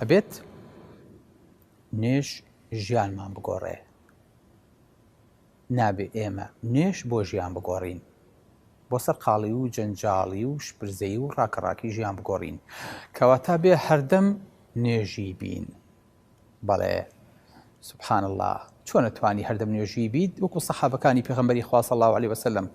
ئەبێت نوێژ ژیانمان بگۆڕێ نابێ ئێمە نوێژ بۆ ژیان بگۆڕین بۆ سەر قاڵی و جەنجاڵی و شپرزەی و ڕاکەڕاکی ژیان بگۆڕین کەواتا بێ هەردەم نوێژی بین بەڵێ سبحان الله چۆنە توانی هەردەم نوێژی بیت وەکو سەحابەکانی پێغمبەری خواص الله عليه وسلم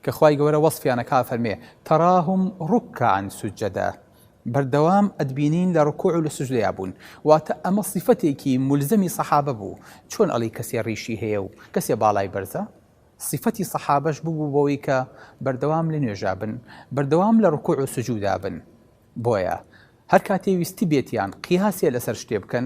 کە خی گەورە وەصفیانە کا فەرمێ تەراهم ڕکان سوجدە بەردەوام ئەتبینین لە ڕکوع و لە سوجدەیا بوون واتە ئەمە صیفەتێکی مولزەمی صەحابە بوو چۆن ئەڵێی کەسێ ڕیشی هەیە و کەسێ باڵای بەرزە صیفەتی صەحابەش ببوو بەوەی کە بەردەوام لە نوێژا بن بەردەوام لە ڕکوع و سجودا بن بۆیە هەر کاتێ ویستبێتیان قیاسێ لەسەر شتێ بکەن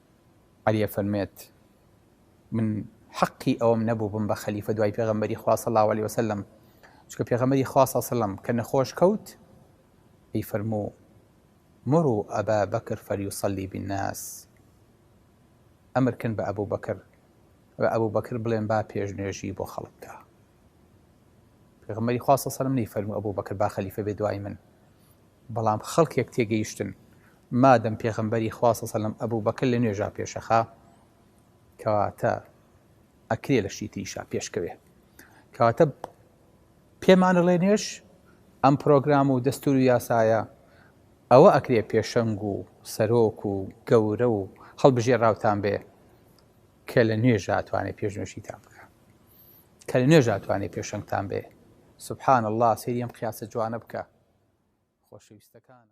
علی ئەفەرمێت، من حەقی ئەوەم نەبوو بم بە خەلیفە دوای پێغەمبەری خوا صلی اللە علیە وسلم، چونکە پێغەمبەری خوا صلی اللە علیە وسلم کە نەخۆش کەوت پێی فەرموو مرو ابا بکر فلیصلی بالناس، ئەمر کەن بە ئەبوبەکر، بە ئەبوبەکر بڵێن با پێشنوێژی بۆ خەڵک بکا. پێغەمبەری خوا صلی الله علیه و فەرموو ابو بکر با خلیفە بێ دوای من بەڵام خەڵکێک تێگەیشتن مادەم پێغەمبەری خوا صلی الله علیه و سلم ابو بکر لە نوێژا پێشەخا کەواتە ئەکرێ لە شتی تریشا پێشکەوێ کەواتە پێمانە ڵێ نوێش ئەم پرۆگرام و دەستور و یاسایە ئەوە ئەکرێ پێشەنگ و سەرۆک و گەورە و هەڵبژێراوتان بێ کە لە نوێژا ئەتوانێ پێشنوێژیتان بکا کە لە نوێژا ئەتوانێ پێشەنگتان بێ سبحان اللە سەیری ئەم قیاسە جوانە بکە خۆشەویستەکانم